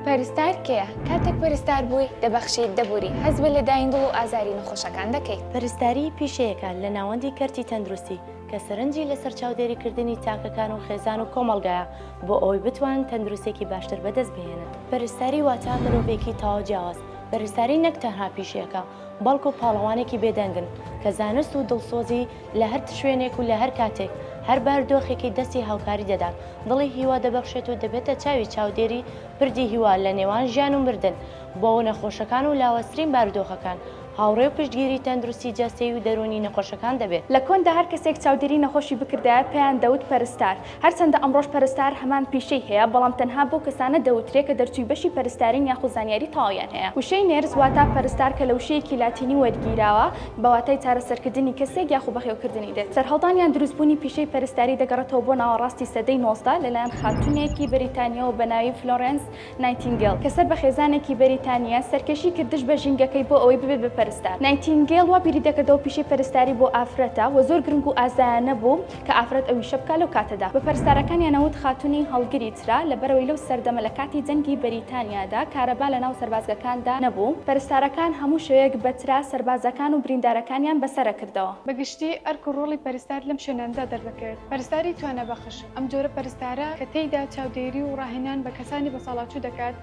پەرستار کێیە؟ کاتێک پەرستار بووی، دەبەخشیت، دەبووری، هەست بە لەدایین دڵ و ئازاری نەخۆشەکان دەکەیت. پەرستاری پیشەیەکە لە ناوەندی کەرتی تەندروستی کە سەرنجی لەسەر چاودێریکردنی تاکەکان و خێزان و کۆمەڵگایە بۆ ئەوەی بتوانن تەندروستێکی باشتر بەدەست بهێنن. پەرستاری واتە مرۆڤێکی تەواو جیاواز. پەرستاری نەک تەنها پیشەیەکە، بەڵکو پاڵەوانێکی بێدەنگن کە زانست و دڵسۆزی لە هەر شوێنێک و لە هەر کاتێک هەر باردۆخێکی دەستی هاوکاری دەدات، دڵی هیوا دەبەخشێت و دەبێتە چاوی چاودێری پردی هیوا لە نێوان ژیان و مردن، بۆ نەخۆشەکان و لاوازترین بارودۆخەکان هاوڕێ و پشتگیری تەندروستی جەستەیی و دەروونی نەخۆشەکان دەبێت. لە کۆندا هەر کەسێک چاودێری نەخۆشی بکردایە پێیان دەوت پەرستار، هەرچەندە ئەمڕۆش پەرستار هەمان پیشەی هەیە، بەڵام تەنها بەو کەسانە دەوترێ کە دەرچووی بەشی پەرستارین یاخود زانیاری تەواویان هەیە. وشەی نێرس واتە پەرستار کە لە وشەیەکی لاتینی وەرگیراوە بە واتای چارەسەرکردنی کەسێک یاخود بەخێوکردنی دێت. سەرهەڵدان یان دروستبوونی پیشەی پەرستاری دەگەڕێتەوە بۆ ناوەڕاستی سەدەی نۆزدە لەلایەن خاتوونێکی بەریتانییەوە بە ناوی فلۆرێنس نایتینگێل کە سەر بە خێزانێکی بەریتانییە، سەرکێشی کرد دژ بە ژینگەکەی بۆ ئەوەی ببێت بە پەرستار. نایتینگێل وا بیری دەکردەوە پیشەی پەرستاری بۆ ئافرەتە و زۆر گرنگ و ئازایانە بوو کە ئافرەت ئەو ئیشە بکات لەو کاتەدا. بە پەرستارەکانیان ئەوت خاتوونی هەڵگری چرا، لەبەرئەوەی لەو سەردەمە لە کاتی جەنگی بەریتانیادا کارەبا لەناو سەربازگەکاندا نەبوو، پەرستارەکان هەموو شەوێک بە چرا سەربازەکان و بریندارەکانیان بەسەرەکردەوە. بە گشتی ئەرک و ڕۆڵی پەرستار لەم شوێنانەدا دەردەکەوێت پەرستاری توانابەخش. ئەم جۆرە پەرستارە کە تێیدا چاودێری و ڕاهێنان بە کەسانی بەساڵاچوو دەکات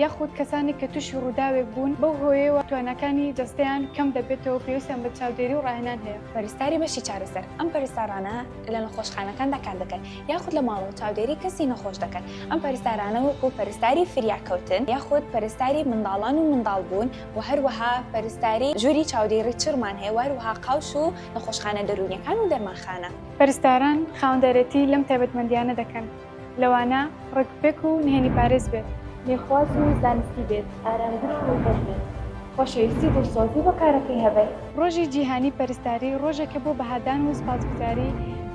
یاخود کەسانێک کە تووشی ڕووداوێک بوون بەو هۆیەوە تواناکانی جەستەیان کەم دەبێتەوە پێویستیان بە چاودێری و ڕاهێنان هەیە. پەرستاری بەشی چارەسەر، ئەم پەرستارانە لە نەخۆشخانەکاندا کار دەکەن یاخود لە ماڵەوە چاودێری کەسی نەخۆش دەکەن، ئەم پەرستارانە وەکوو پەرستاری فریاکەوتن یاخود پەرستاری منداڵان و منداڵبوون و هەروەها پەرستاری ژووری چاودێری چڕمان هەیە و هەروەها قاوش و نەخۆشخانە دەروونییەکان و دەرمانخانە. پەرستاران خاوەندارێتی لەم تایبەتمەندییانە دەکەن، لەوانە، ڕێکوپێک و نهێنی پارێز بێت. لێخواز و زانستی بێت، ئارامگر و ڕووخۆش بێت، خۆشەویستی و دڵسۆزی بۆ کارەکەی هەبێت. ڕۆژی جیهانی پەرستاری ڕۆژێکە بۆ بەهادان و سوپاسگوزاری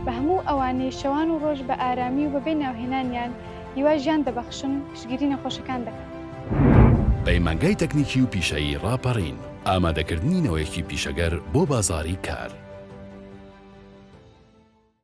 بە هەموو ئەوانەی شەوان و ڕۆژ بە ئارامی و بەبێ ناوهێنانیان هیوای ژیان دەبەخشن و پشتگیری نەخۆشەکان دەکەن. پەیمانگای تەکنیکی و پیشەیی ڕاپەڕین. ئامادەکردنی نەوەیەکی پیشەگەر بۆ بازاڕی کار.